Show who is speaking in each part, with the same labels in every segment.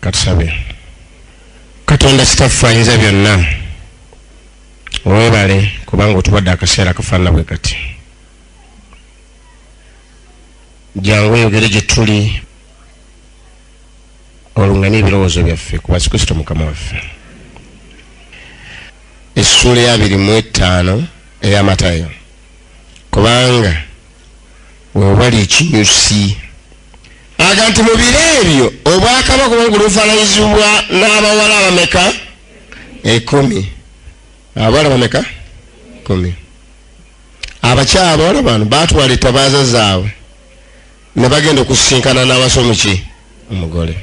Speaker 1: katusabe katonda sitaffe ayinza byonna webale kubanga otubadde akaseera kafaanana bwe kati jangu oyogere gye tuli olungane ebirowoozo byaffe ku basi kristo mukama waffe essuula eyabiri mu ettaano eyamatayo kubanga wewali ekinyusi aga nti mu biro ebyo obwakabaka oba ngulufananyizibwa n'abawala abameka ekumi abawala bameka kumi abakyala abawala bano batwala etabaaza zaabwe ne bagenda okusisinkana n'abasomuki omugole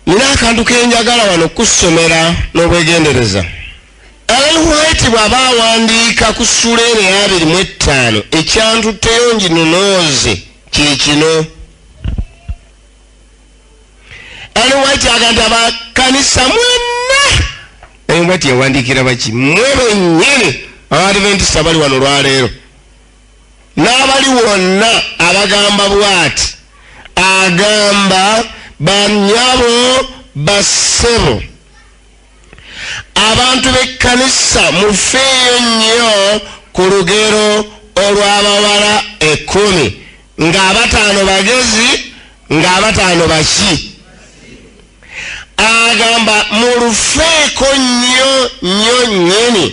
Speaker 1: nina akantu kenjagala wano kusomera n'obwegendereza Ellen White bw'aba awandiika ku ssuula eno ey'abiri mu ettaano ekyantutteyo nginonooze kye kino Ellen White aga nti abakanisa mwenna Ellen White yawandiikira baki mwe bennyini abaadventisa bali wano olwaleero n'abali wonna abagamba bw'ati agamba banyabo bassebo abantu b'ekkanisa mufeeyo nnyo ku lugero olw'abawala ekkumi ng'abataano bagezi ng'abataano baki agamba mulufeeko nnyo nnyo nnyini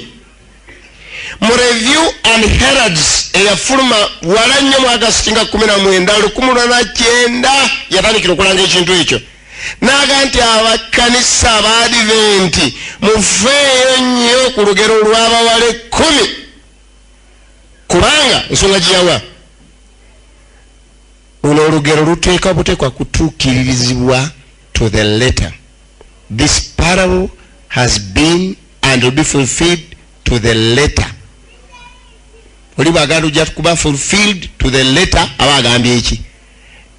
Speaker 1: mu review and heralds eyafuluma wala nnyo mu agasiti nga 19 lukumu lwana kyenda yatandikira okulanga ekintu ekyo naga nti abakkanisa abaadiventi mufeeyo nnyo ku lugero lw'abawala ekkumi kubanga ensonga giyawa luno olugero luteeka buteekwa kutuukiririzibwa to the letter this parable has been and will be fulfilled to the letter oli bwaganda ojja kuba fulfilled to the letter aba agambye eki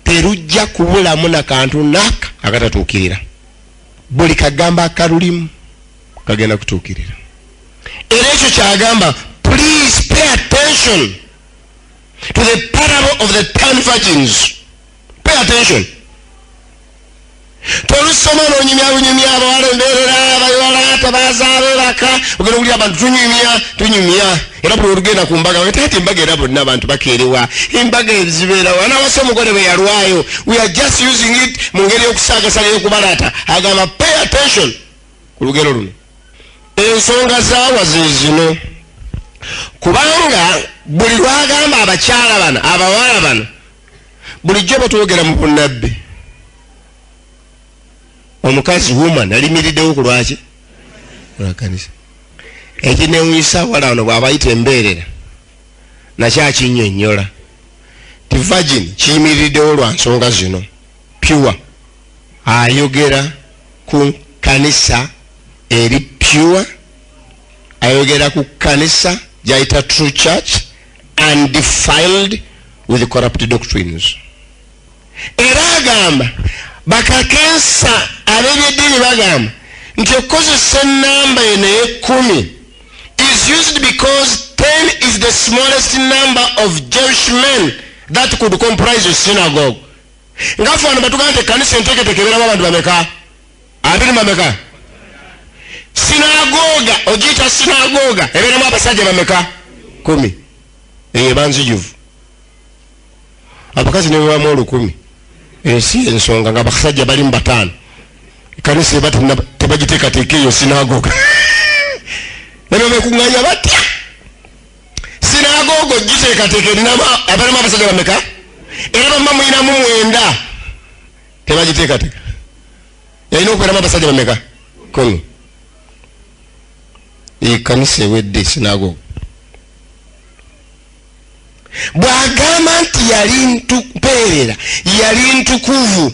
Speaker 1: terujja kubulamu na kantu naka akatatuukirira buli kagamba akalulimu kagenda kutuukirira era ekyo kyagamba please pay attention to the parable of the ten virgins pay attention tolusoma nonyumyalunyumya abawala emberera abayala tabazaabe baka ogenda okuli abantu tunyumya tunyumya era buli olugenda ku mbaga taati embaga era bonna abantu bakeerewa embaga ezibeerawo anawasa omugole bwe yalwayo we are just using it mu ngeri yokusagasa neyokubalaata agamba pay attention ku lugero luno ensonga zaawa zezino kubanga buli lwagamba abakyala bano abawala bano bulijjo batwogera mu bunabbi omukazi woman alimiriddewo ku lwaki lwakanisa ekinewunyisa wala wano bwabayita embeerera nakyo akinyonyola ti virgin kiyimiriddewo lwa nsonga zino pure ayogera ku kanisa eri pure ayogera ku kanisa gyayita true church and defiled with corrupt doctrines era agamba bakakensa ab'ebyeddiini bagamba nti okukozesa enamba eno ey'ekkumi is used because ten is the smallest number of jewish men that could comprise a synagogue nga ffe wano batugamba nti ekkanisa enteeketeeka ebeeramu abantu bameka abiri mameka sinagoga ogiyita sinagoga ebeeramu abasajja bameka kumi eyo ebanzijuvu abakazi nebebamu olukumi ensi eh, ensonga nga abasajja bali mu bataano ekanisa eba tebagiteekateeka eyo sinagoga nebebekunganya batya sinagoga ogiteekateeka erinamu abasajja bameka era bamma mulinamu mwenda tebagiteekateka yalina okubeeramu abasajja bameka kumi ekanisa ewedde sinago bwagamba nti yali mpeerera yali ntukuvu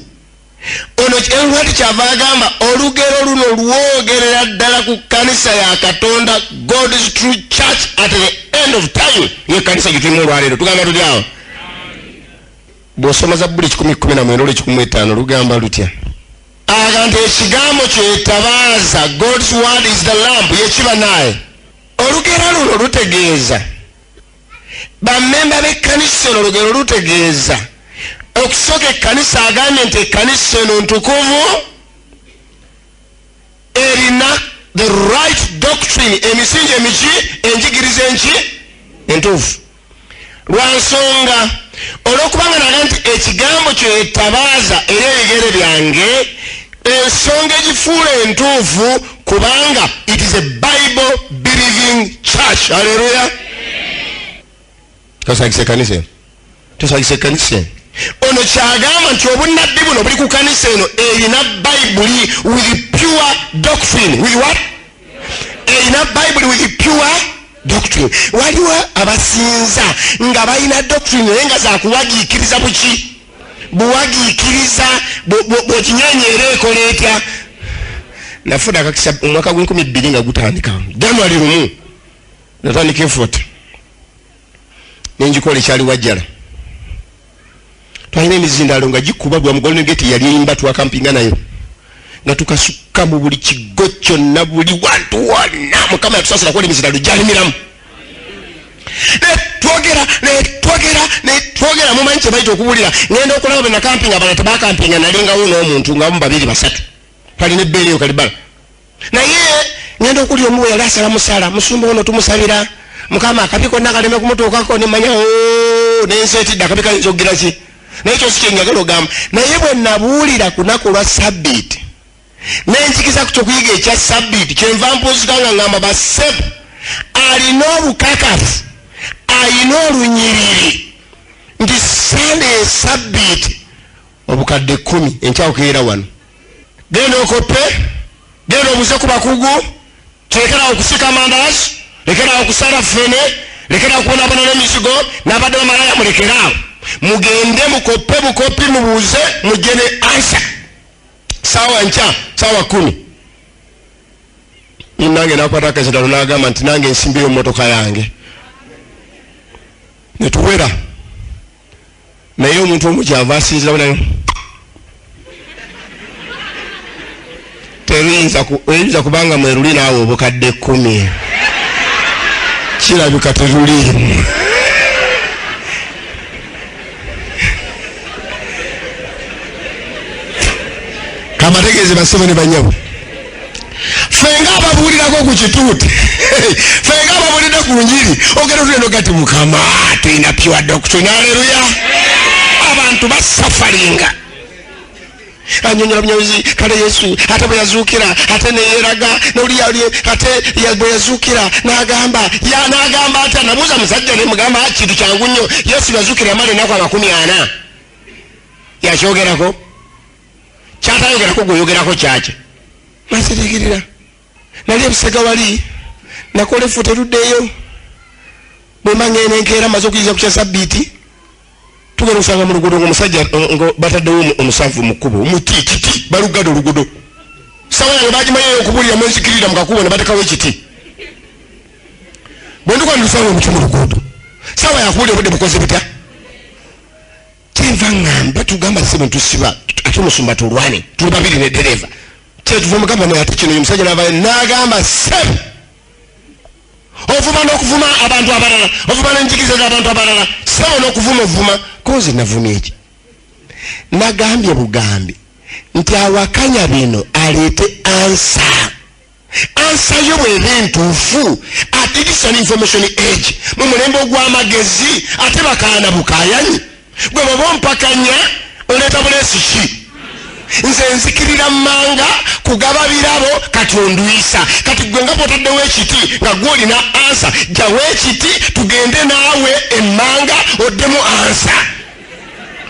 Speaker 1: ono enwati kyava agamba olugero luno lwogerera ddala ku kanisa ya katonda god's true church at the end of time yekanisa gitirimu olwaleero tugamba tuli awo bw'osoma zabbuli kikumi kkumi na mwenda olwekikumi mu etaano lugamba lutya aga nti ekigambo kyetabaaza god's word is the lamp yekiba naye olugero luno lutegeeza bamemba b'ekkanisa eno olugero lutegeeza okusooka ekkanisa agambye nti ekkanisa eno ntukuvu erina the right doctrine emisingi emiki enjigiriza enki entuufu lwansonga olwokubanga naga nti ekigambo kyo etabaaza era ebigere byange ensonga egifuula entuufu kubanga it is a bible believing church aleluya tosagisa ekanisa eno tosagisa ekanisa eno ono kyagamba nti obunnabbi buno buli ku kanisa eno erina bayibuli with pure doctrine with what erina bayibuli with pure doctrine waliwo abasinza nga balina doctrine naye nga zakuwagiikiriza buki buwagiikiriza bwekinyonyeera ekola etya nafuna akakisa omwaka gwenkumi bbiri nga gutandika january lumu natandika efot nenjikola ekyali wajjala twalina emizindaalo nga gikuba gwa mugolden gate yali eyimba twakampinga nayo nga tukasukka mu buli kigo kyonna buli wantu wonna mukama yatusasira kuba emizindaalo gyalimiramu netwogera netwogera netwogera mumanyi kyebaita okubulira ngenda okulaba benakampinga abana tebakampinga nalingawo n'omuntu nga mu babiri basatu twalina ebbeereyo kalibala naye ngenda okuli omu weyali asala musala musumba ono tumusabira mukama akabi konna kaleme kumutuukako nemanya oh, nensetidde akabi kayinza okugira ki naye kyosi kyenjagala ogamba naye bwe nabuulira kunaku lwa sabbiiti nenjikiza ku kyokuyiga ekya sabbiiti kyenva mpuuzika nga ngamba basebu alina obukakafu alina olunyiriri nti sande esabbiiti obukadde kkumi enkya okeera wano genda okoppe genda obuze ku bakugu tulekerawo okusika amandazi lekerawo okusala fene lekerawo okubonabona n'emizigo n'abadde bamalaya mulekeraawo mugende mukoppe bukoppi mubuuze mujje ne ansa saawa nkya saawa kumi nange nakwata akazidalo nagamba nti nange nsimbiyo motoka yange netuwera naye omuntu omu kyava asinzirawo nayo teruyinza kubanga mweruli naawe obukadde kkumi kirabika teruliimu kamategeeze basebo ne banyabo fenga ababuulirako ku kituuti fenga ababuulidde ku njiri ogenda otulendo gati mukama tulina piwa dokito naleluya abantu basafalinga anyonyola bunyozi kale yesu ate bwe yazuukira ate neyeraga noliyali ate bwe yazuukira nagamba ya nagamba ati anabuuza musajja nemugamba ah, kintu kyangu nnyo yesu yazuukira yamala enaku amakumi ana yakyogerako kyatayogerako gweyogerako kyaki nakitegirira nali ebusega wali nakola efuta eruddeeyo bwemangene enkeera maze okuyiza kukya sabbiiti tugenda okusanga mu lugudo ngaomusajja nga bataddewo omusanvu mu kkubo omuti ekiti balugada olugudo sawa yange bagimanyayo okubulira mwenzikirira mu kakubo ne batekawo ekiti bwe ndikuba ndilusanga omuti mu lugudo sawa yakubulira obudde bukoze butya kyenva ngamba tugamba sebo ntusiba ate omusumba tulwane tuli babiri ne dereva kyetuva omugamba naye ate kino omusajja nava nagamba sebo ovuma nokuvuma abantu abalala ovuma nenjigiza zabantu abalala sebo nokuvuma ovuma kozi navuma eki nagambye bugambi nti awakanya bino aleete ansa ansa yo bweba entuufu ate digital information age mu mulembe ogw'amagezi ate bakaana bukayanyi gwe baba ompakanya oleeta buleesi ki nze nzikirira manga kugaba birabo kati ondwisa kati gwe nga bwotaddewo ekiti nga gwe olina ansa jawo ekiti tugende naawe emmanga oddemu ansa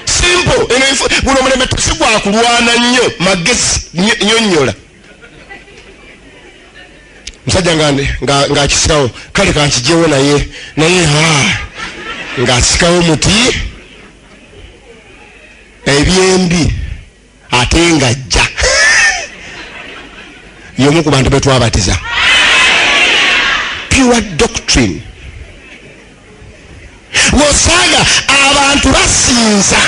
Speaker 1: simple buno omulembe tusigwakulwana nnyo magezi nyonyola musajja ngaakisikawo kale kankijewo naye naye ngaasikawo muti ebyembi ate nga jja yomu ku bantu betwabatiza pure doctrine wosanga abantu basinza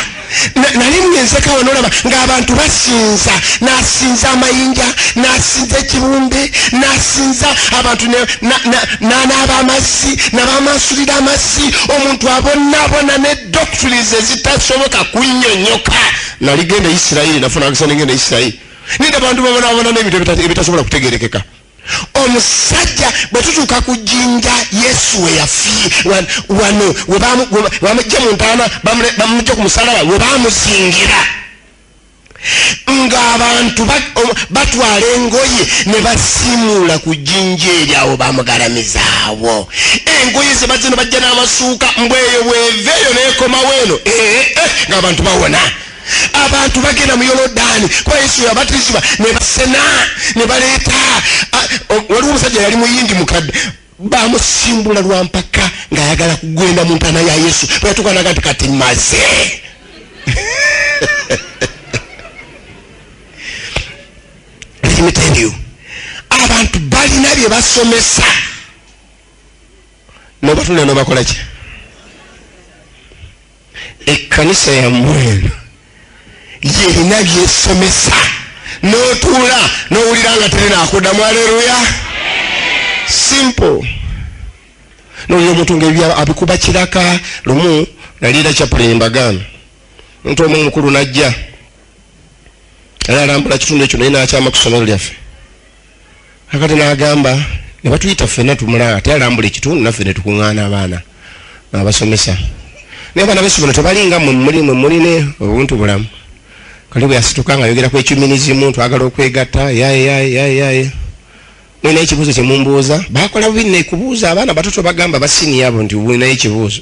Speaker 1: nali mwenzeka wanolaba ngaabantu basinza nasinza amayinja nasinza ekibumbe nasinza abantu nanaaba amazzi nabamansulira amazzi omuntu abonabona ne doctrines ezitasoboka kunyonyoka naligenda isirairi nafunakisanengenda isirairi nida abantu babonabona nebintu ebitasobola kutegerekeka omusajja bwe tutuuka ku jjinja yesu we yafi wano webamujja mu ntaana bamujja ku musalaba we bamuzingira ng'abantu batwala engoye ne basimuula ku jjinja eri awo bamugalamizaawo engoye ze bazino bajja n'amasuuka mbweyo bweveeyo neekomawo eno eh, eh, eh, ng'abantu bawona abantu bagenda mu yolodaani kuba yesu yabatizibwa nebasena nebaleeta waliwo omusajja yali muyindi mukadde bamusimbula lwampaka ngaayagala kugenda mu ntaana ya yesu bweyatukanaga nti kati maze emitendeo abantu balina bye basomesa nobatunda nobakolaki ekkanisa yammwe eno yerina byesomesa n'otuula n'owulira nga teri naakuddamu aleluya simple nolira omuntu ngaebya abikuba kiraka lumu naliira kyapulini mbagaano omuntu omu omukulu najja era alambula kitundu ekyo naye nakyama ku ssomero lyaffe nakati nagamba nebatuyita ffena tumulaba ate alambula ekitundu naffe netukuŋaana abaana abasomesa naye abaana besomero tebalinga mumulimu muline obuntu bulamu kali bweyasituka nga ayogera kwekyuminizimu twagala okwegatta yayeyayeyaye mulina ekibuuzo kyemumbuuza bakola bubi nekubuuza abaana batoto bagamba basiniya abo nti bulinayo ekibuuzo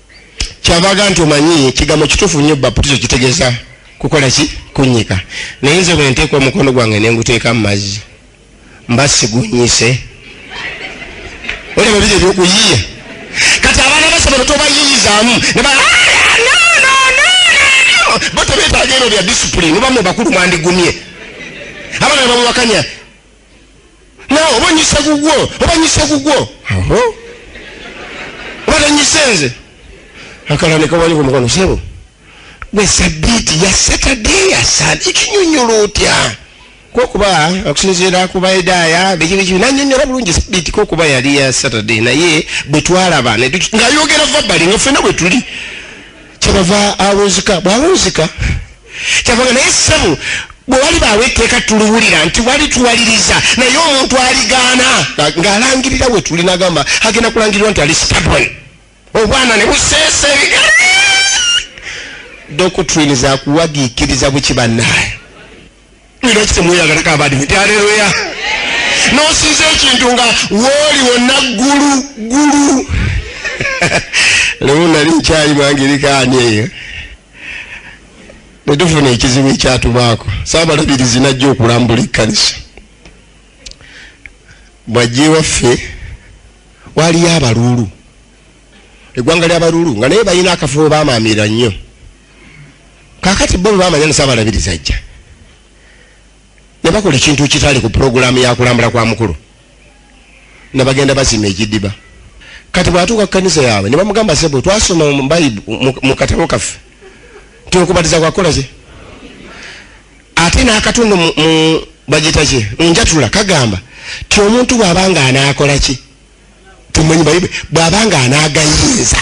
Speaker 1: kyabaga nti omanyi ekigambo kituufu nnyo baputizo kitegeeza kukola ki kunnyika naye nze bwe nteeka omukono gwange ne nguteeka mu mazzi mba sigunyise olaba biri ebyokuyiya kati abaana basomero tobayiyizaamu ne ba bo tebeetaaga eno bya disipulini oba mu bakulu mwandigumye abana bamuwakanya nawe oba onyise gugwo oba nyise gugwo oba tanyise nze akala nekawali ku mukono sebo gwe sabiiti ya saturday ya sand ikinyonyola otya kokuba okusinziira ku baedaaya bikibiki nanyonyola bulungi sabiiti kokuba yali ya saturday naye bwetwalaba ngayogera vabali nga fena bwetuli kyebava awunzika bwawunzika kyavaga naye sebo bwewali baawo etteeka tuluwulira nti wali tuwaliriza naye omuntu aligaana ng'alangirira we tuli nagamba agenda kulangirirwa nti ali stabon obwana ne buseesa ebigere doctrine zakuwagiikiriza bukibannaye lwaki temweyagalako abadimu nti aleluya nosinza ekintu nga wooli wonna ggulu ggulu lewo nali nkyali mwangirikaani eyo netufuna ekizibu ekyatubaako saabalabirizi najja okulambula ekkanisa bwajja ewaffe waliyo abaluulu eggwanga lyabaluulu nga naye balina akafo bamaamira nnyo kakati bo bebamanya nisa abalabiriza ajja nebakola ekintu kitali ku pulogulaamu yakulambula kwa mukulu nebagenda basima ekidiba kati bwatuuka kukanisa yaabwe nebamugamba sebo twasoma mubayibu mukatabo kaffe nti okubatiza kwakolaki ate nakatundu bagitaki munjatula kagamba ti omuntu bwabanga anakolaki timanyi bayibu bwabanga anagayinza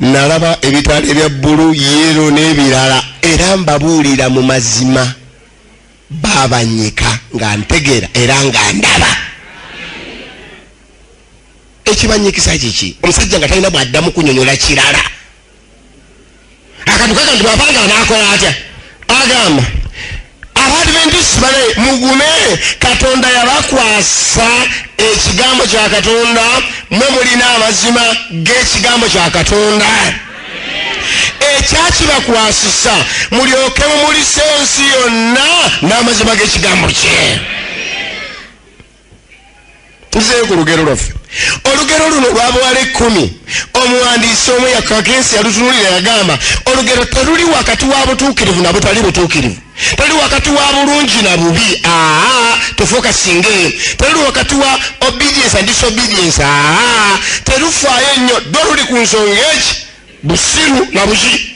Speaker 1: nalaba ebitaala ebya bbulu yeero n'ebirala era mbabuulira mu mazima baabanyika nga ntegeera era nga ndaba ekibanyikisa kiki omusajja nga talina bw'addamu kunyonyola kirala akantu kaga nti bwapangala nakola atya agamba abadventist bale mugume katonda yabakwasa ekigambo kya katonda mwe mulina amazima g'ekigambo kya katonda ekyakibakwasisa mulyoke mumulisa ensi yonna n'amazima g'ekigambo kye tuzeeyo ku lugero lwaffe olugero luno lwabawala ekkumi omuwandiisi omu yakakensi yalutunulira yagamba olugero teruli wakati wa butuukirivu na butali butuukirivu teri wakati wa bulungi na bubi aa tofuuka singa eyo teri wakati wa obedience and disobedience aa terufaayo nnyo ddo luli ku nsonga eki busiru na buki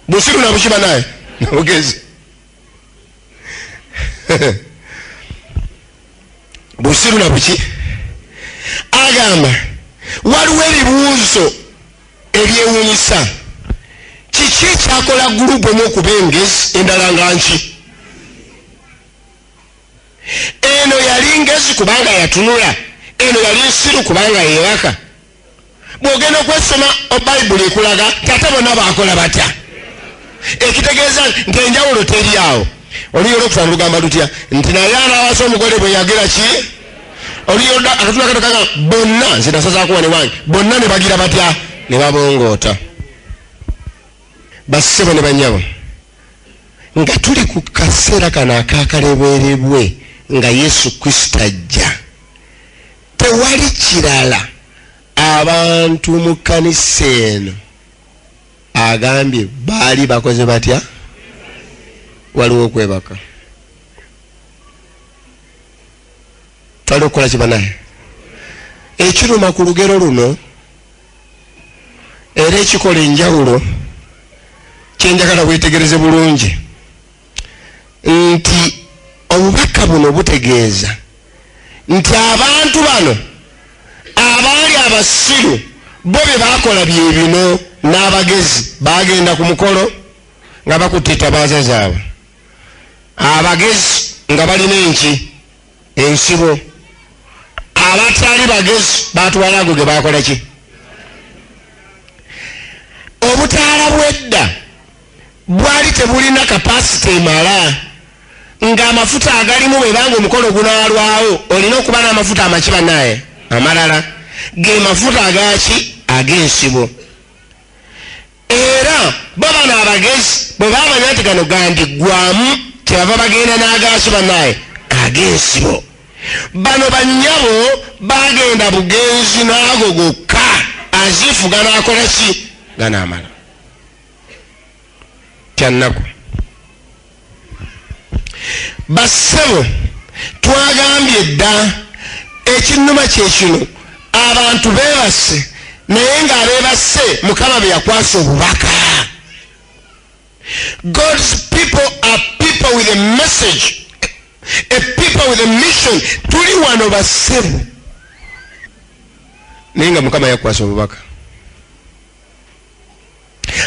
Speaker 1: busiru na buki banaye nabugezi busiru na buki agamba waliwo ebibuuzo ebyewunyisa kiki ekyakola gurupu omu okuba engezi endala nga nki eno yali ngezi kubanga yatunula eno yali nsiru kubanga yewaka bwogenda okwesoma obayibuli ekulaga tata bona bakola batya ekitegeeza nti enjawulo teri awo oluyola okufa nolugamba lutya nti naye anawasa omugole bwe yagira ki oluyola akatula katokaga bonna nze nasazakuwa ne wange bonna ne bagira batya ne babongoota bassebo ne banyabo nga tuli ku kaseera kano akakaleberebwe nga yesu kristo ajja tewali kirala abantu mu kkanisa eno agambye baali bakoze batya waliwo okwebaka twali okukola kibanaye ekiruma ku lugero luno era ekikola enjawulo kyenjagala wetegereze bulungi nti obubaka buno butegeeza nti abantu bano abaali abasiru bo bye bakola bye bino n'abagezi bagenda ku mukolo nga bakutte etabaaza zaabwe abagezi nga balina enki ensibo abatali bagezi batwala ago ge bakola ki obutaala bwedda bwali tebulina kapasite emala ng'amafuta agalimu bwebanga omukolo gunaalwawo olina okuba n'amafuta amaki banaye amalala ge mafuta agaki ag'ensibo era babano abagezi bwe bamanya nti gano gandiggwamu kyebava bagenda n'agaki banaye ag'ensibo bano bannyabo bagenda bugenzi n'ago gokka aziifu ganaakola ki ganaamala kyannaku bassebo twagambye dda ekinnuma kyekino abantu bebasse naye nga abebasse mukama beyakwasa obubaka god's people are people with a message a people with a mission tuli wano bassebo naye nga mukama yakwasa obubaka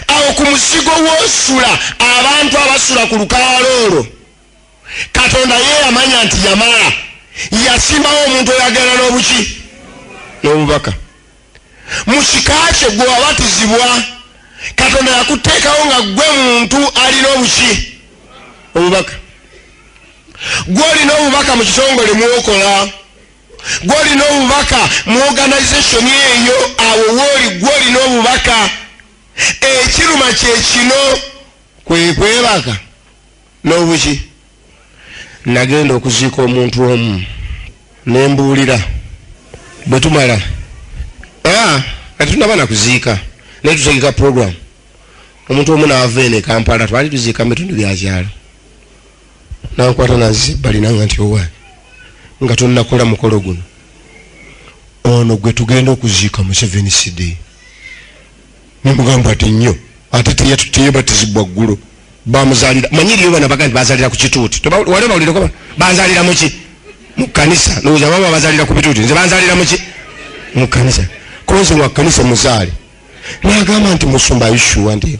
Speaker 1: awo ku muzigo wosula abantu abasula ku lukalala olwo katonda ye yamanya nti yamala yasimbawo omuntu oyagenda n'obuki n'obubaka mu kika kye gwe wabatizibwa katonda yakuteekawo nga gwe muntu alina obuki obubaka gwe olina obubaka mu kitongole mwokola gwolina obubaka mu organization eyo awo wooli gwolina obubaka ekiruma kyekino kwekwebaka nobuki nagenda okuziika omuntu omu nembuulira bwetumala katunaba nakuziika naye tutegeka program omuntu omu naava ene kampala twali tuziika mu bitundu byakyalo nankwata nanzisa ebbali nanga nti owa nga tonakola mukolo guno ono gwe tugenda okuziika museveni side nemugamba ati nnyo ate teyebatizibwa ggulo bamuzalira manyi eriyo bana baga nti bazalira ku kituuti wali bawulireko bazalira muki mu kanisa lowooza baba bazalira ku bituuti nze bazalira muki mu kanisa konze wa kanisa muzaale nagamba nti musumba ishuwa nti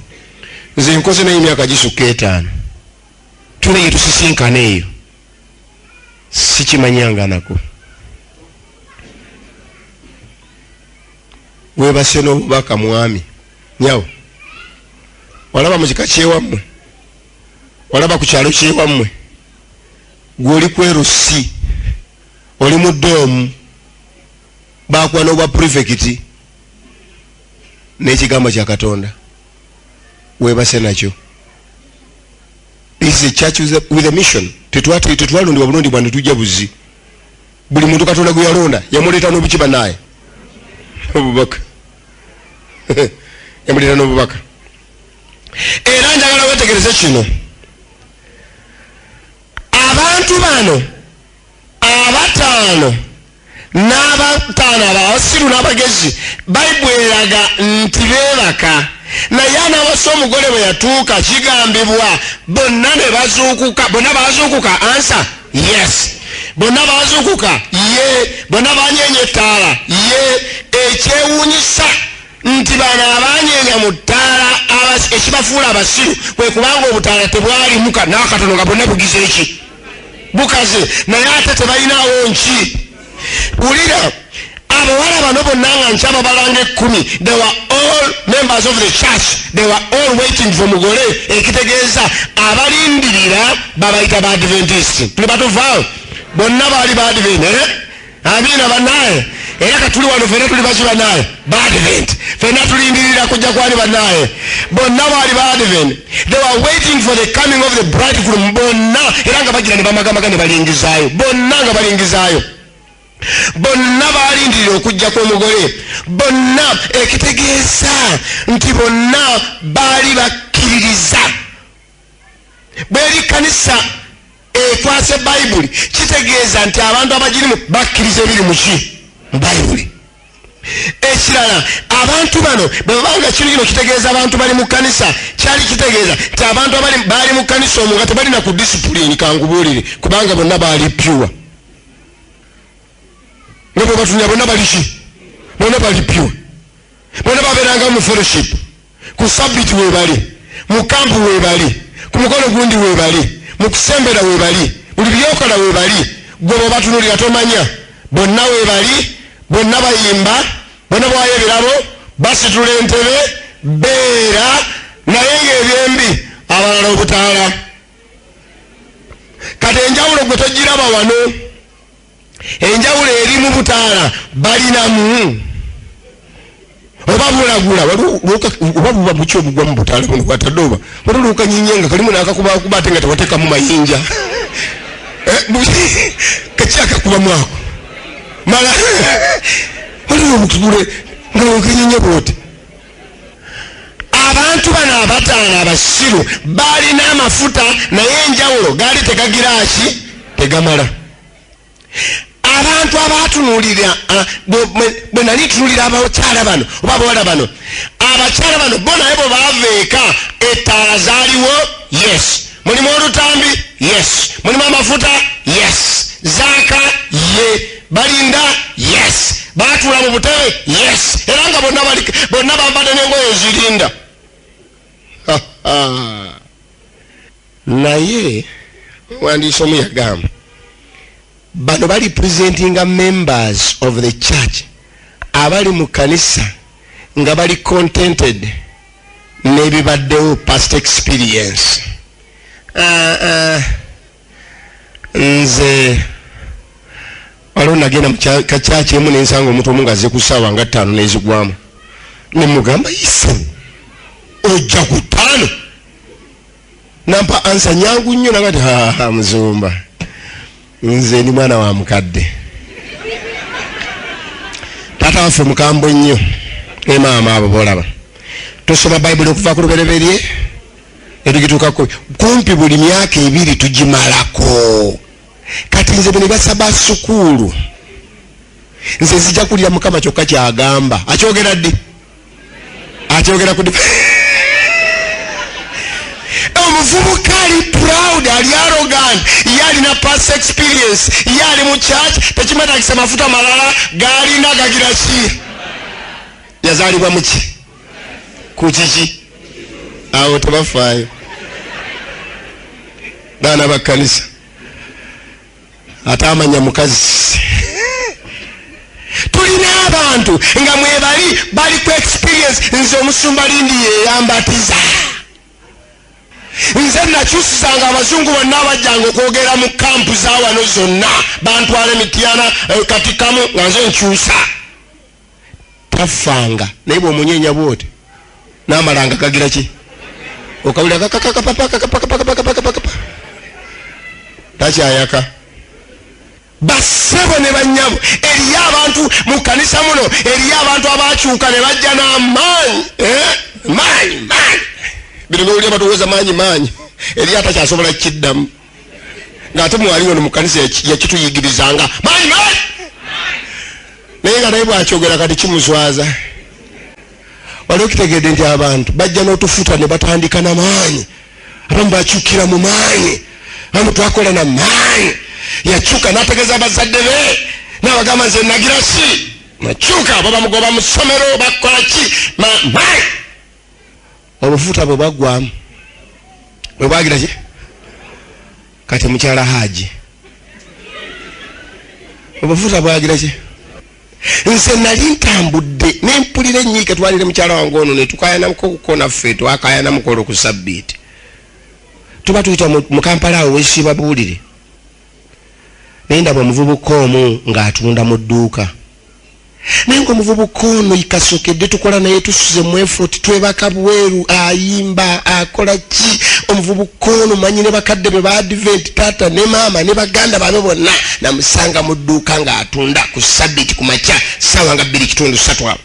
Speaker 1: nze nkoze naye emyaka gisukka etaano tule yetusisinkana eyo sikimanyanganako webase nobubaka mwami nyawo walaba mukika kyewammwe walaba ku kyalo kyewammwe gwe oli kwerusi oli mu doomu bakuwa n'obwa purifekiti n'ekigambo kya katonda weebase nakyo is a church with a mission tetwati tetwalundi wabulondi bwani tujja buzi buli muntu katonda gwe yalonda yamuleta no bikiba naye obubaka yamuleta no bubaka era njagala wetegereze kino abantu bano abataano n'abataano abasiru n'abagezi bayibuli eraga nti beebaka naye anawasa omugole bwe yatuuka kigambibwa bonna ne bazuukuka bonna bazuukuka ansa yes bonna bazuukuka ye bonna banyeenya ettaala ye ekyewuunyisa nti bano abanyeenya mu ttaala ekibafuula abasiru kwe kubanga obutaala tebwalimu n'akatono nga bonna bugize eki bukazi naye ate tebalinawo nki wulira abawala bano bonna nga nki ababalanga ekkumi they were all members of the church they were all waiting for mugole ekitegeeza abalindirira babayita ba adventist tuli batuvaawo bonna baali ba advent eh? Amina banaye era katuli wano fena tuli baki banaye badvent fena tulindirira kujja kwani banaye bonna baali badvent they were waiting for the coming of the bridegroom bonna era nga bagira ne bamagamaga ne balingizaayo bonna nga balingizaayo bonna balindirira okujja kw'omugole bonna ekitegeeza nti bonna baali bakkiririza bweri kanisa ekwase bayibuli kitegeeza nti abantu abagirimu bakkiriza ebiri muki mu bayibuli ekirala abantu bano bwebabanga kino kino kitegeeza abantu bali mu kanisa kyali kitegeeza nti abantu baali mu kanisa omu nga tebalina ku disipulini kangubuulire kubanga bonna baali pyuwa nebwebatunira bonna baliki bonna bali pyuwa bonna babeeranga mu fellowship ku sabbiti webali mu kampu webali ku mukolo gundi webali mu kusembera webali buli byokola webali gwe bobatunulira tomanya bonna webali bonna bayimba bonna bwayo ebirabo basitula entebe beera naye ngaebyembi abalala obutaala kati enjawulo gwe togiraba wano enjawulo eri mu butaala balinamu oba bulagula oba buba buki obugwa mu butaala buno bwatadde oba watuluuka nyinye nga kalimu nakakubakuba ate nga tewatekamu mayinja eh, kakyakakubamu ako mala waliwo obutugule nga wekenyinye bwoti abantu bano abataano abasiru baalina amafuta naye enjawulo gaali tegagiraaki tegamala abantu abatunulira bwe nali ntunulira abakyala bano oba abawala bano abakyala bano bo naye bwe baava eka ettaala zaaliwo yes mulimu olutambi yes mulimu amafuta yes zaaka ye balinda yes batula mu butebe yes era nga bonna bambadde nengoyo zirinda naye omuwandiisi omu yagamba bano bali presentinga members of the church abali mu kanisa nga bali contented nebibaddewo past experience uh, uh, nze waliwo nagenda mukakyaki emu nensanga omuntu omu ngaze ku saawa nga ttaano nezigwamu nemugamba ise ojja ku ttaano nampa ansa nyangu nnyo nagati haa muzumba nze ndi mwana wa mukadde taata waffe mukambwe nnyo ne maama abo bolaba tusoma bayibuli okuva ku lubereberye etugituuka kumpi buli myaka ebiri tugimalako kati nze bwe ne basaba sukuulu nze zijja kulira mukama kyokka kyagamba akyogera ddi akyogera ku omuvubuka ali proud ali arogan ye alina past experience ye ali mu church tekimatagisa mafuta malala galina gagira ki yazalibwa muki ku kiki awo tebafaayo baana bakkanisa ate amanya mukazi tulina abantu nga mwebali bali ku experience nze omusumba lindi yeyambatiza nze nakyusisanga abazungu bonna abajjanga okwogera mu kampu zawano zonna bantwala emityana eh, katikamu nga nze nkyusa tafanga naye bwomunyenya bwoti namalanga gagira ki okawulira kakakakapapakakapakapakapakapakapa takyayaka basebo ne banyabo eriyo abantu mu kanisa muno eriyo abantu abakyuka ne bajja n'amaanyi eh? maanyi maanyi bino nowulira batuweza maanyi maanyi eriyo atakyasobola kukiddamu ngaate mwaliwo no mukanisa yakituyigirizanga maanyi maanyi naye nga naye bwakyogera kati kimuswaza wali okitegedde nti abantu bajja n'otufuta ne batandika na maanyi abamu bakyukira mu maanyi abamu twakola na maanyi yakyuka n'ategeeza abazadde be n'abagamba nze nagira si nakyuka babamugoba mu ssomero bakola ki maanyi obufuta bwe bwaggwamu bwe bwagira ki kati mukyala haaji obufuta bwagira ki nze nali ntambudde nempulira enyiike twalire mukyala wange ono netukayanamuko okukonaffe twakayanamukola okusabbiiti tuba tuyita mu kampala awo wesiba buwulire naye ndaba omuvubuka omu ng'atunda mu dduuka naye nga omuvubuka ono ikasokedde tukola naye tusuze mwefot twebaka bweru ayimba akola ki omuvubuka ono manyi ne bakadde be baadiventi taata ne maama ne baganda babe bonna namusanga mu dduuka ng'atunda ku sabiti ku makya saawa nga bbiri kitundu satu abo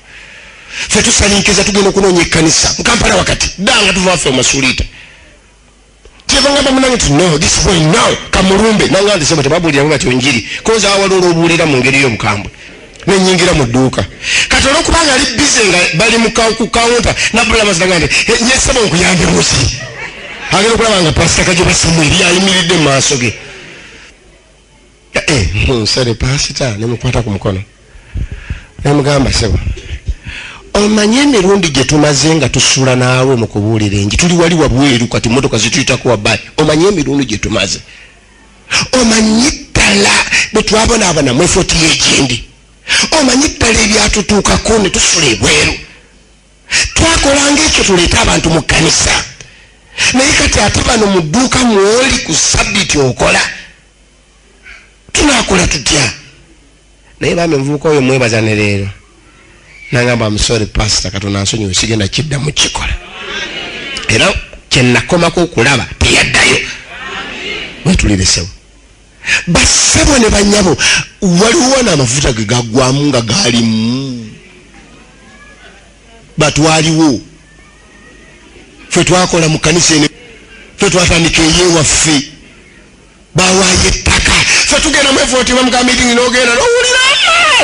Speaker 1: fe tusalinkiza tugenda okunoonya ekkanisa mukampala wakati dda nga tuva waffe omasuliita kyeva ngamba munange ti no this boy now kamulumbe nanga ndisema tebabulira nga kyonjiri koza awali olwobuulira mu ngeri y'obukambwe nenyingira mu dduuka kati olwokuba nga ali bize nga bali ku kawunta nabula maziraga nti eh, nyesaba okuyambe musi agenda okulaba nga pasita kajoba samweri ayimiridde mu maaso ge eh, nsale pasita nemukwata ku mukono nemugamba sebo omanyi emirundi gye tumaze nga tusula naawe mu kubuulira enji tuli wali wabweru kati motoka zituyitako wabayi omanyi emirundi gye tumaze omanyi ddala bwe twabonaabona mwefotiyo egindi omanyi ddala ebyatutuukako ne tusula ebweru twakolanga ekyo tuleete abantu mu kkanisa naye kati ate bano mu dduuka mwoli ku sabbiti okola tunakola tutya naye bambi omuvubuka oyo mwebaza ne leero nangamba amusore pasita katonda nsonyiwe sigenda kidda mu kikola era kyenakomako okulaba teyaddayo wetuliresewo bassebo ne banyabo waliwo naamafuta ge gagwamu nga galimu batwaliwo fe twakola mu kanisa ene fe twatandika eyewaffe bawayo ettaka fe tugenda mwevooti bamugambitingi nogenda nowulira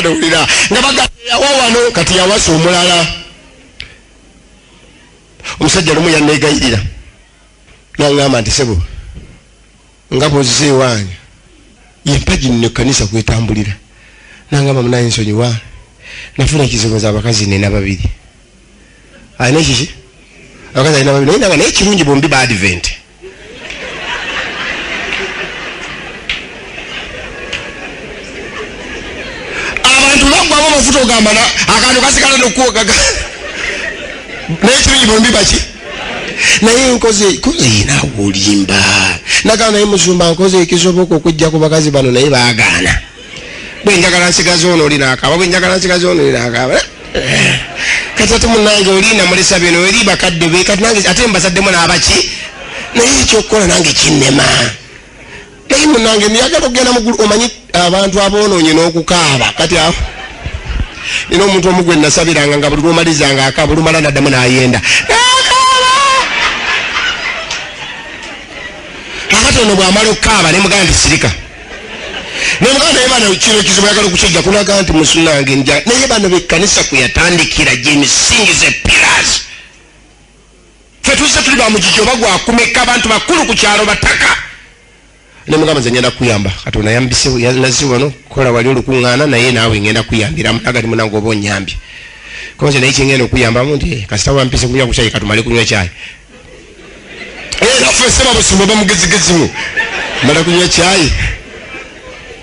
Speaker 1: nowulira nga bagayawa wano kati yawasa omulala omusajja lumu yanegayirira nangamba nti sebo nga bwozze ewange yempagi nno ekkanisa kwetambulira nangamba munaye nsonyiwa nafuna ekizibu za abakazi nina babiri alina ekiki abakazi alina babiri naye nanga naye kirungi bombi ba advent abantu bagwamu amafuta ogamba akantu kasigala nokuwogaga naye kirungi bombi baki naye nkoze yina wolimba nagamba naye musumba nkoze ekisoboka okujja ku bakazi bano naye bagaana bwenjagala nsigaza ono oli nakaba bwenjagala nsigaza ono oli nakaba eh, kati ate munange olina mulesa bino eri bakadde be kati nange ate mbazaddemu n'abaki naye ekyokukola nange kinema Naye munange niyagala okugenda mugulu omanyi abantu aboononye n'okukaaba kati awo nina omuntu omu gwe nasabiranga nga buli lwomalizanga akaaba olumala naddamu nayenda kakati ono bwamala okukaaba ne muganda sirika naye muganda naye bana kino ekizibu yagala okukijja kulaga nti musunange nja naye bano bekkanisa kwe yatandikira gyemisingi ze pillars fe tuzze tuli bamugigi oba gwakumeka abantu bakulu ku kyalo bataka nemugamba nze ngenda kuyamba katonda yambiseyalaze wano kola wali olukuŋŋaana naye naawe ngenda kuyambiramu nagati munange oba onyambye koze naye kyengenda okuyambamu nti eh, kasita wampise kunywa ku kyayi katumale kunywa kyayi era eh, fese babusumba bamugezigezimu mala kunywa kyayi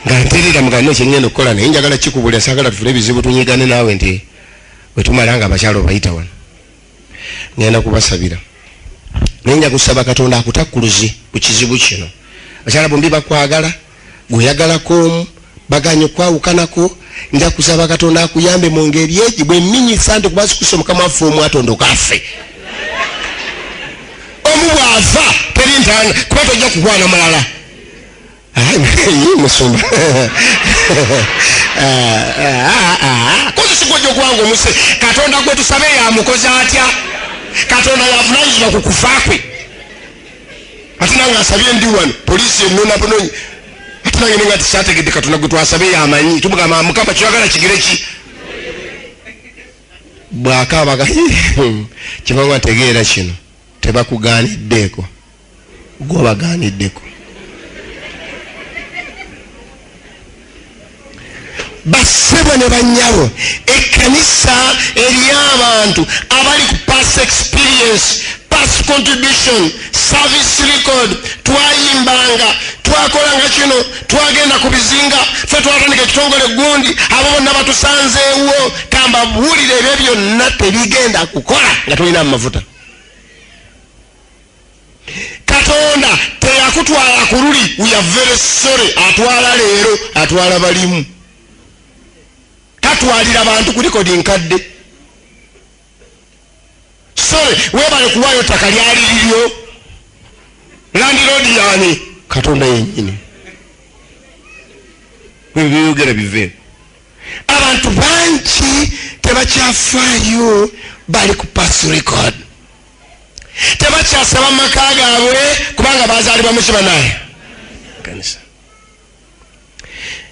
Speaker 1: nga nterera mugane kyengenda okukola naye njagala kikubulira sagala tufune ebizibu tunyigane naawe nti wetumala nga abakyalo obayita wano ngenda kubasabira naye nja kusaba katonda akutakkuluze ku kizibu kino akyala bombi bakwagala gweyagalako omu baganye okwawukanako nja kusaba katonda akuyambe mu ngeri egi bweminyisa nti kuba sikusa omukama waffe omu atondoka affe omu bw'afa teri ntaana kuba tojja kukwana mulala musumba kozesa gwojo gwange omuse katonda gwe tusabe yamukoze atya katonda yavunanyizibwa ku kufa kwe ate nange asabye ndi wano polisi enona bunonyi ate nange nenga tisategedde katonda gwe twasabe yamanyi tumugamba mukama kyoyagala kigere ki bwakaabaga kibanga tegeera kino tebakugaaniddeeko gwobagaaniddeko bassebo ne bannyabo ekkanisa eriyo abantu abali ku past experience past contribution service record twayimbanga twakolanga kino twagenda ku bizinga fe twatandika ekitongole gundi abo bonna batusanzeewo kambabuulire ebyo byonna tebigenda kukola nga tolina mu mafuta katonda teyakutwala ku luli uyaveresore atwala leero atwala balimu tatwalira bantu kulikodi nkadde sore webale kuwayo ttaka lyali liryo landirodi yani katonda yenyini byoyogera bive abantu bangi tebakyafaayo bali ku pass record tebakyasaba mu maka gaabwe kubanga bazaalibwa mu kibanaye kanisa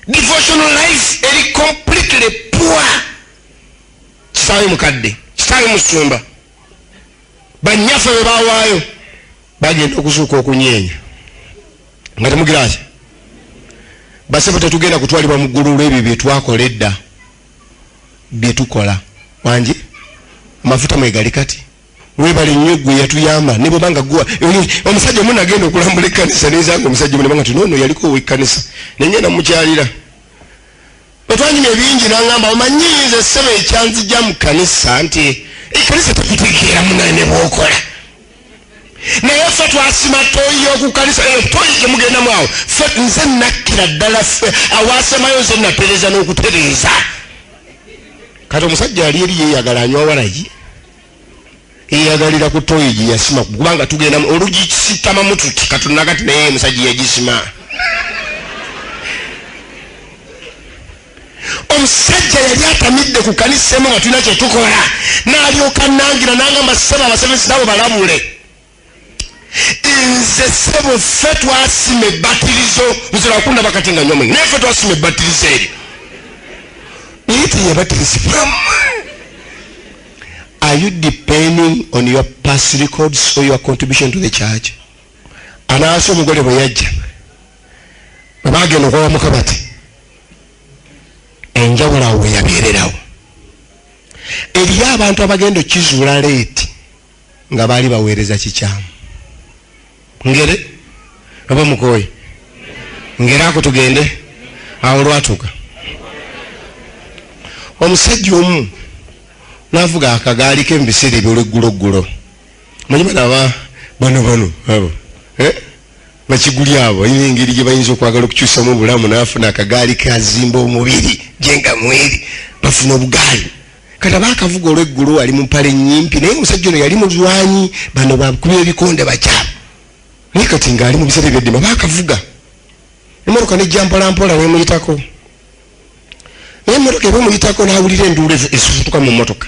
Speaker 1: devotional life eri completely poor kisaayo mukadde kisaayo musumba banyaffe bwe bawaayo bagenda okuzuuka okunyeenya nga temugiraki basebo tetugenda kutwalibwa mu ggulu olw'ebyo bye twakola edda byetukola wangi amafuta mwegali kati webale nnyo gwe yatuyamba ne bwobanga gwa omusajja omu nagenda okulambula ekkanisa nezanga omusajja omu nebanga ti noono yaliko owekkanisa nenye namukyalira otwanyuma ebingi nangamba omanyi nze ssebo ekyanzija mu kanisa nti ekkanisa tekutigeera munaye ne bwokola naye ffe twasima toyi yokukanisa eyo toyi gyemugendamu awo fe nze nakkira ddala ffe awasemayo nze natereza n'okutereeza kati omusajja ali eri yeyagala anywa walagi eyagalira ku toyi gye yasima kubanga tugenda olugikisitamamu tuti katunagati naye omusajja yagisima omusajja yali atamidde ku kanisa emu nga tulina kyetukola nalyoka nangira nangamba sebo abasebezi nabo balabule nze sebo ffe twasima ebatirizo nzilakunda bakati nga nyomwe naye ffe twasima ebatirizo eri naye teyabatirizibwamu are you depending on your past records or your contribution to the church anaasi omugole bwe yajja bwe bagenda okwawa mukabati enjawulo awo weyabeererawo eriyo abantu abagenda okizuula leeti nga baali baweereza kikyamu ngere oba mukooye ngere ako tugende awo lwatuuka omusajja omu navuga akagaali ke mubiseera ebyolwegguloggulo manyuma naba bano bano abo eh? bakiguli abo balina engeri gye bayinza okwagala okukyusamu obulamu nafuna akagaali kazimba omubiri jenga mweri bafuna obugaali kati aba akavuga olweggulu ali mumpale nyimpi naye omusajja ono yali mulwanyi bano bakuba ebikonde bakyamu naye kati ngaali mubisere byeddima aba akavuga emotoka nejja mpolampola nemuyitako naye emotoka eba omuyitako nawulira enduula esusutuka mu motoka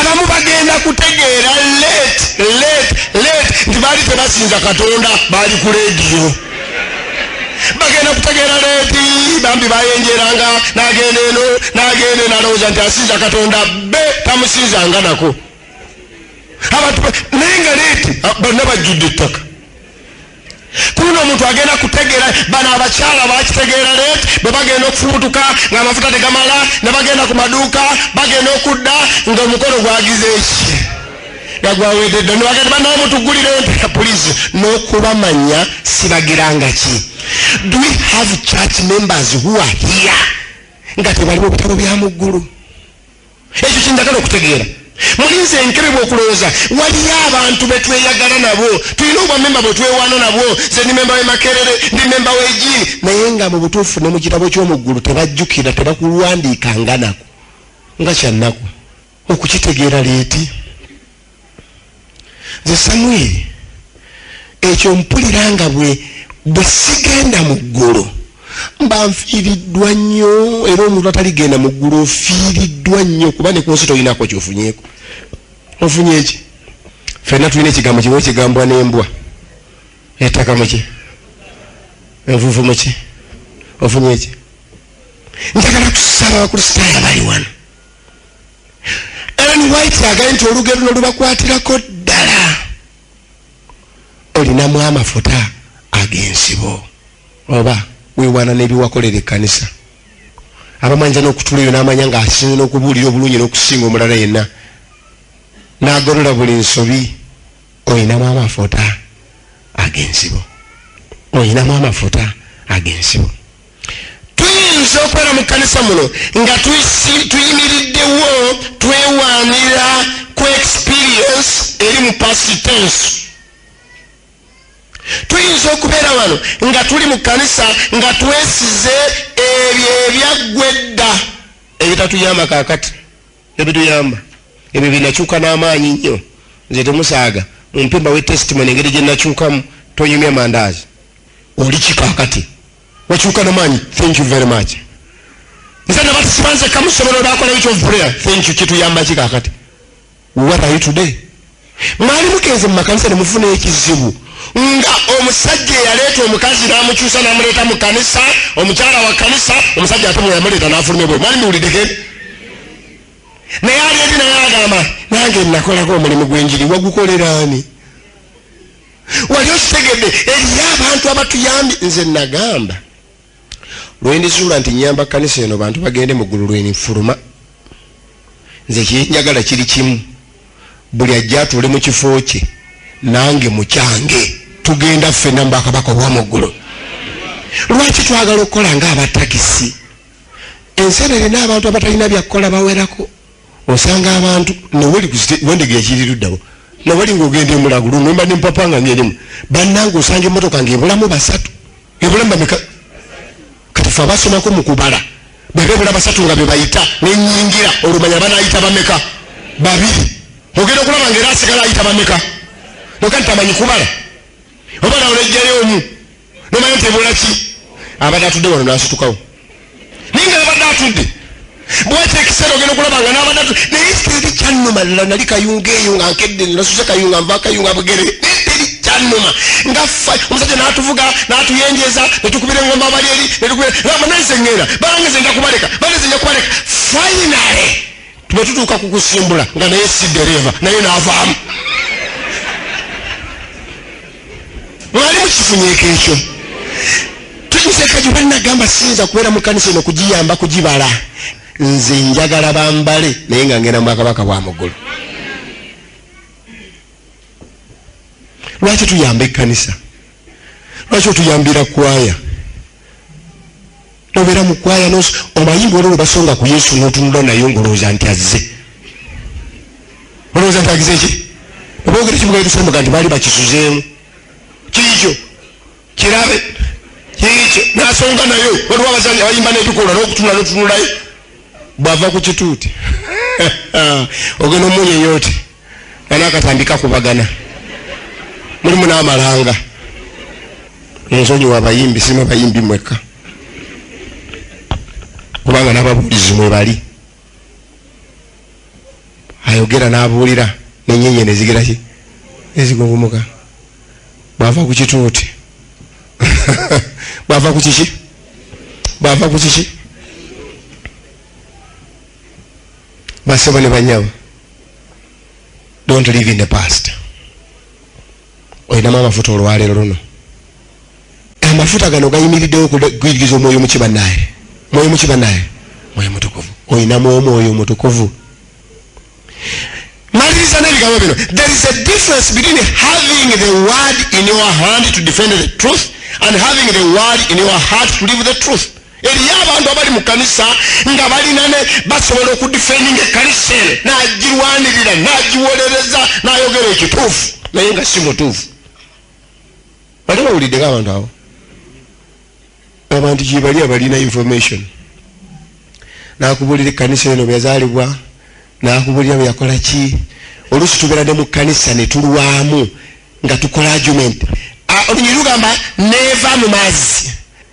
Speaker 1: abamu bagenda kutegeera late late late nti baali tebasinza katonda baali ku lediyo bagenda kutegeera leti bambi bayenjeranga nagenda eno nagenda eno alowooza nti asinza katonda be tamusinzanga nako abantu naye nga leti banna bajjudde ettaka kuno omuntu agenda kutegeera bano abakyala bakitegeera let bwe bagenda okufubutuka nga amafuta tegamala ne bagenda ku maduuka bagenda okudda nga omukono gwagize eki nga gwawededde nibagenda banawe mutugulire ntera pulizi n'okubamanya sibagiranga ki do we have church members who are here nga tebaliwo bitabo bya muggulu ekyo kyendagala okutegeera mulinze enkebebwa okulowooza waliyo abantu betweyagala nabo tulina obwamemba bwetwewaana nabo ze ndi memba wemakerere ndi memba wegi naye nga mu butuufu ne mu kitabo ky'omuggulu tebajjukira tebakulwandiikanga nako nga kyannaku okukitegeera leeti nze samwiri ekyo mpulira nga bwe bwe sigenda mu ggulu mba nfiiriddwa nnyo era omuntu ataligenda mu ggulu ofiiriddwa nnyo kuba ne ku nsi tolinako kyofunyeeko ofunye eki fenna tulina ekigambo kiba ekigambwa n'embwa ettaka muki envuvu muki ofunye eki njagala kusaba bakristaayo abali wano Ellen White agambye nti olugero luno lubakwatirako ddala olinamu amafuta ag'ensibo oba wewaana n'ebiwakolera ekkanisa abamanyisa n'okutula eyo n'amanya ng'asinze n'okubuulira obulungi n'okusinga omulala yenna n'agolola buli nsobi olinamu amafuta ag'ensibo olinamu amafuta ag'ensibo tuyinza okubeera mu kkanisa muno nga tuyimiriddewo twewaanira ku experience eri mu pasitensi tuyinza okubeera wano nga tuli mu kkanisa nga twesize ebyo ebyaggwa edda ebitatuyamba kakati ebituyamba ebyo binakyuka n'amaanyi nnyo nze temusaaga mumpemba wetestimony engeri gye nakyukamu tonyumya mandaazi oli kikakati wakyuka namaanyi thank you very much nze nabatusibanze kamusobola olwakola ekyo prayer thank you kituyamba kikakati what are you today mwali mugenze mu makanisa nemufuna ekizibu nga omusajja eyaleeta omukazi namukyusa namuleeta mu kanisa omukyala wa kanisa omusajja ate mweyamuleeta nafuluma ebwe mwali miwulideke naye ali eri naye agamba nange nakolako omulimu gwenjiri wagukoleraani wali okitegedde eriyo abantu abatuyambye nze nagamba lwendizuula nti nyamba kanisa eno bantu bagende mu ggulu lwenifuluma nze kyenjagala kiri kimu buli ajja atuule mu kifo kye nange mukyange tugenda ffena mu bakabaka obwamu ggulu lwaki twagala okukola nga abatakisi ensi eno erina abantu abatalina byakukola bawerako osanga abantu noweli wendege ekiri luddawo noweli ng'ogenda emulago luno mba nempapa nga ngerimu bannanga osanga emmotoka ng'ebulamu basatu ebulamu bameka kati fe abasomako mu kubala bebebula basatu nga bebayita nenyingira olumanya banayita bameka babiri ogenda okulaba nga era asigala ayita bameka noka nti amanyi kubala oba nawe nejjayo omu nomanya nti ebola ki abadde atudde wano nasitukawo naye nga abadde atudde bwekyo ekiseera ogenda okulaba nga nabadde atudde naye teri kyanuma lala nali kayunga eyo nga nkedde nasuse kayunga nva kayunga bugere teri kyanuma nga omusajja natuvuga natuyenjeza netukubira engomba abali eri netukubira namananze ngenda bange ze njakubaleka bange ze njakubaleka finally bwe tutuuka ku kusimbula nga naye si dereeva naye n'avaamu mwali mukifunyeko ekyo tukiseeka gye banagamba siyinza kubeera mu kanisa eno kugiyamba kugibala nze njagala bambale naye nga ngenda mubwakabaka bwa muggulu lwaki tuyamba ekkanisa lwaki otuyambira kwaya tobera mukwaya nos omanyi bwona webasonga ku yesu notunula nayo ngolowooza nti azze olowooza nti agize ki obogere kibugaetusemuga nti baali bakisuzeemu kiikyo kirabe kiikyo nasonga nayo waliwo abazanyi abayimba nebikola nokutunula notunulayo bwava ku kituuti ogenda omunyeyoti bana akatandika kubagana mulimu n'amalanga ensonyi wabayimbi sima bayimbi mwekka kubanga n'ababuulizi mwe bali ayogera n'abuulira nenyenye nezigira ki nezigunvumuka bwava ku kituuti bwava ku kiki bwava ku kiki basebo ne banyamu don't live in the past olinamu amafuta olwalero luno amafuta gano gayimiriddewo okugwiriza omwoyo muki banaye mwoyo muki banaye mwoyo mutukuvu olinamu omwoyo mutukuvu maliriza nebigambo bino there is a difference between having the word in your hand to defend the truth and having the word in your heart to live the truth eriyo abantu abali mu kanisa nga balina ne basobola okudifendinga ekanisa eno nagirwanirira nagiwolereza nayogera ekituufu naye nga si mutuufu bali bawuliddeko abantu abo abantu gyebali abalina information nakubulira ekanisa eno bweyazaalibwa nakubulira bweyakola ki oluusi tubeera ne mu kanisa netulwamu nga tukola argument ah, olunyiri lugamba neva mu mazzi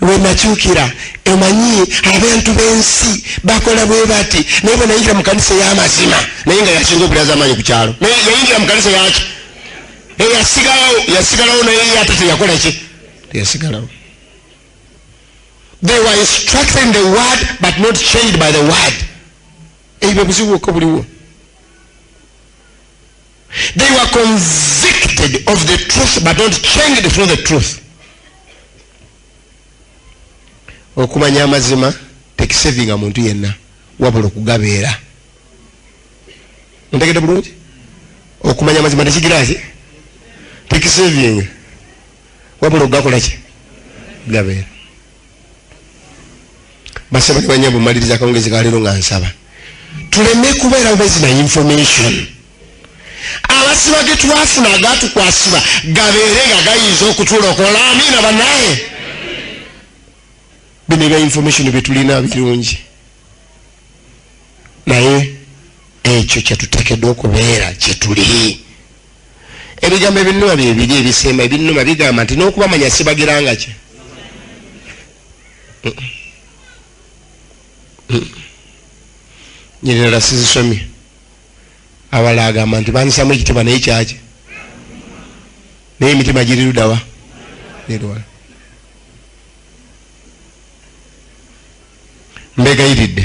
Speaker 1: lwenakyukira omanyi abantu bensi bakola bwe bati naye bwe nayingira mu kanisa eyamazima naye nga yasinga okulaza amaanyi ku kyalo naye yayingira mu kanisa yaki eyasigalawo yasigalawo naye ate teyakola ki teyasigalawo they were instructing the word but not changed by the word ebyo buzibu okka buliwo They were convicted of the truth but not changed through the truth. Okumanya amazima tekisevinga muntu yenna wabula okugabeera. Ntegede bulungi? Okumanya amazima tekigira ki? Tekisevinga wabula okugakola ki? Gabeera. basaba ne banyabo maliriza akawungezi kaleero nga nsaba tuleme kubeera bubezi na information abasiba ge twafuna agatukwasiba gabeere nga gayinza okutulokola amiina banaye bino ebya information byetulina birungi naye ekyo kyetutekedwa okubeera kyetuli ebigambo ebinnuma bye biri ebisemba ebinnuma bigamba nti n'okubamanya sibagiranga kye nyinirala sizisomye abala agamba nti bandisamu ekitiibwa naye kyaki naye emitima giri ludawa neriwala mbegayiridde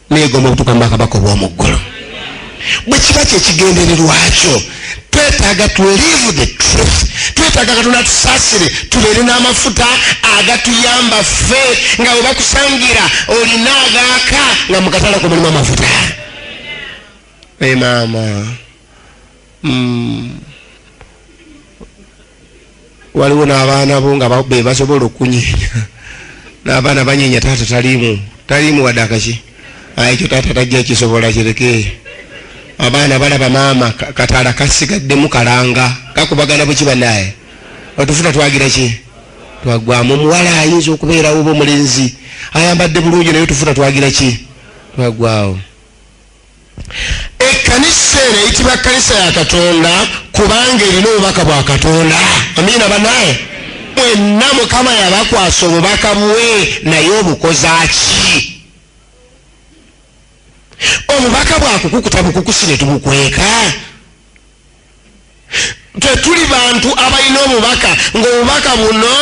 Speaker 1: negomba okutuuka mubakabaka obwomuggulu bwe kiba kyekigendererwakyo twetaaga tulive the truth twetaaga katonda tusaasire tubeere n'amafuta agatuyamba ffe nga bwe bakusangira olina agaaka nga mukatala kumulimu amafuta emaama hey, mm. waliwo n'abaana bo nga be basobola okunyenya n'abaana banyenya taata taliimu taliimu wadde akaki ah, ekyo taata tajja kisobola kireke abaana balaba maama kataala kasigaddemu kalanga kakubagana buki banaye otufuna twagira ki twagwamu omuwala ayinza okubeerawo oba omulenzi ayambadde bulungi naye otufuna twagira ki twagwawo ekkanisa eno eyitibwa kkanisa ya katonda kubanga erina obubaka bwa katonda amiina banaye mwenna mukama yabakwasa obubaka bwe naye obukozaki obubaka bwakukukuta bukukusi netubukweka tetuli bantu abalina obubaka ngaobubaka buno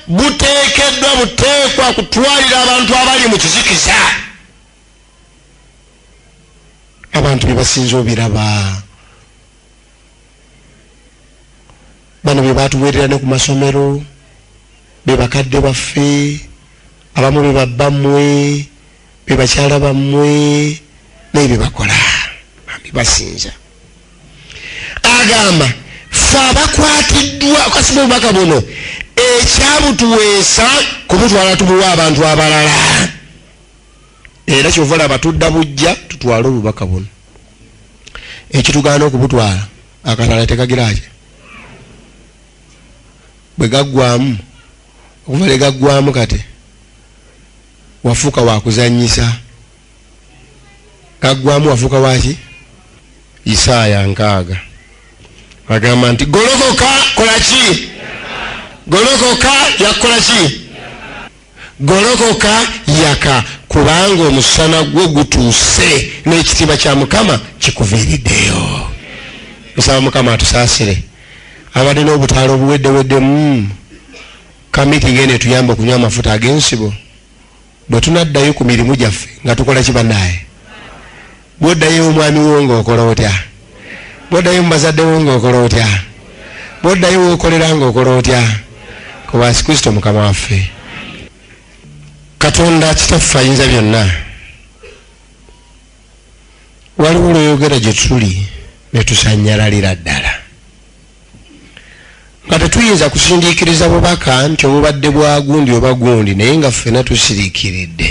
Speaker 1: buteekeddwa buteekwa kutwalira abantu abali mu kizikiza abantu bebasinze obiraba bano bebatuwerera ne ku masomero bebakadde baffe abamu bebabba mmwe bebakyala bammwe naye bebakola bambi basinza agamba fe abakwatiddwa kasiba obubaka buno ekyabutuweesa kubutwala tubuwa abantu abalala era kyova laba tudda bujja tutwale obubaka buno ekitugaana okubutwala akalala tekagiraki bwe gaggwamu okuva ne gaggwamu kati wafuuka wakuzanyisa gaggwamu wafuuka waki isaaya nkaaga agamba nti golokoka kolaki golokoka yakukola ki Golokoka, yaka, kubanga omusana gwo gutuuse, n'ekitiibwa kya Mukama kikuviiriddeyo. Nsaba Mukama atusaasire abadde n'obutaala obuweddeweddemu kamiti ng'eno etuyamba okunywa amafuta ag'ensibo bwe tunaddayo ku mirimu gyaffe nga tukola ki bannaaye Bw'oddayo ew'omwami wo ng'okola otya? Bw'oddayo mu bazadde bo ng'okola otya? Bw'oddayo w'okolera ng'okola otya? Ku bwa Yesu Kristo Mukama waffe. Katonda Kitaffe ayinza byonna, waliwo lw'oyogera gye tuli ne tusanyalalira ddala nga tetuyinza kusindiikiriza bubaka nti obubadde bwa gundi oba gundi naye nga ffena tusiriikiridde.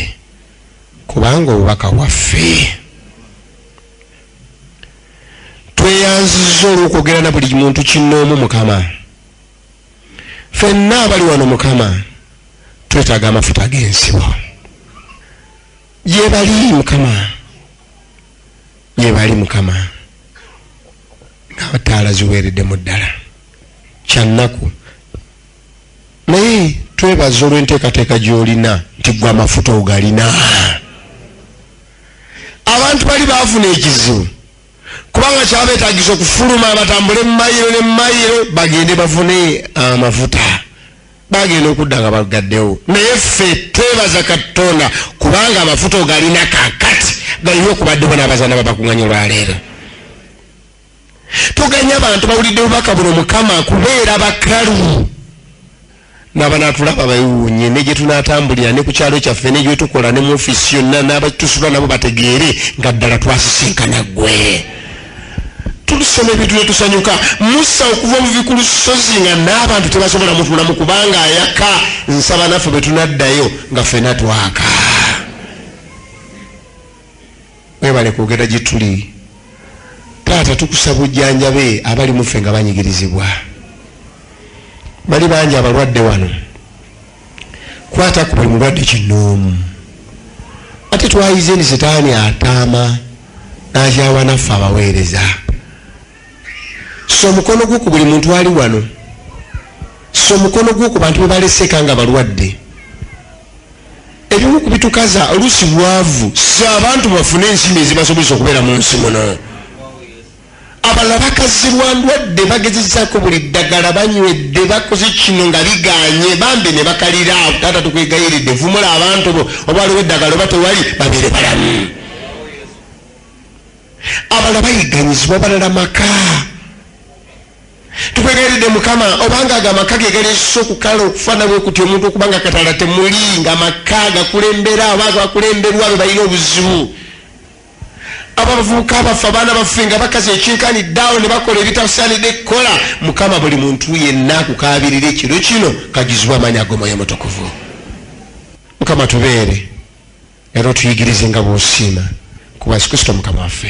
Speaker 1: kubanga obubaka bwaffe tweyanziza olwokwogera na buli muntu kinoomu mukama fenna abali wano mukama twetaaga amafuta ag'ensiwa gyebali mukama gyebali mukama ngabataala ziweereddemu ddala kyannaku naye twebaza olw'enteekateeka gy'olina nti gwe amafuta ogalina abantu bali baafuna ekizibu kubanga kyabeetagisa okufuluma batambule mu mayiro ne mu mayiro bagende bafune amafuta bagenda okudda nga bagaddewo naye ffe twebaza katonda kubanga amafuta ogalina kakati galiwo okubaddewo n'abazana babakunganya olwaleero tuganya abantu bawulidde obubaka buno mukama kubeera bakalu nabanatulaba bewuunye ne gyetunatambulira ne ku kyalo kyaffe ne gyetukola ne mu ofisi yonna nabatusula nabo bategeere nga ddala twasisinkana gwe tulusoma ebintu netusanyuka musa okuva obuvi ku lusozi nga n'abantu tebasobola mutulamu kubanga ayaka nsaba naffe bwe tunaddayo nga ffena twaka Mwebale kwogera gyetuli taata tukusa bujjanjabe abali muffe nga banyigirizibwa bali bangi abalwadde wano kwata ku buli mulwadde kinoomu ate twayize ni sitaani ataama nakyawa naffe abaweereza so omukono gwo ku buli muntu ali wano so omukono gwo ku bantu bebaleseka nga balwadde ebimu ku bitukaza oluusi bwavu si abantu bafune ensimbi ezibasobozesa okubeera mu nsi muno abalala bakazibwa ndwadde bagezezako buli ddagala banywedde bakoze kino nga biganye bambi ne bakalira taata tukwegayiridde vumula abantu bo oba waliwo eddagala oba tewali babeere balamu abalala bayiganyizibwa balala maka tukwegayiridde mukama obanga ago amaka ge galeesa okukala okufaana bwe kuti omuntu okuba nga katala temuli nga amaka gakulembera oba gakulemberwa be balina obuzibu abo abavubuka baffe abaana baffe nga bakazi ekinkani daawo ne bakola ebitasaanidde kukola mukama buli muntu yenna akukaabirira ekiro kino kajuzibwa amaanyi ag'omwoyo mutukuvu mukama tubeere era otuyigirize nga bwosiima kuba yesu kristo mukama waffe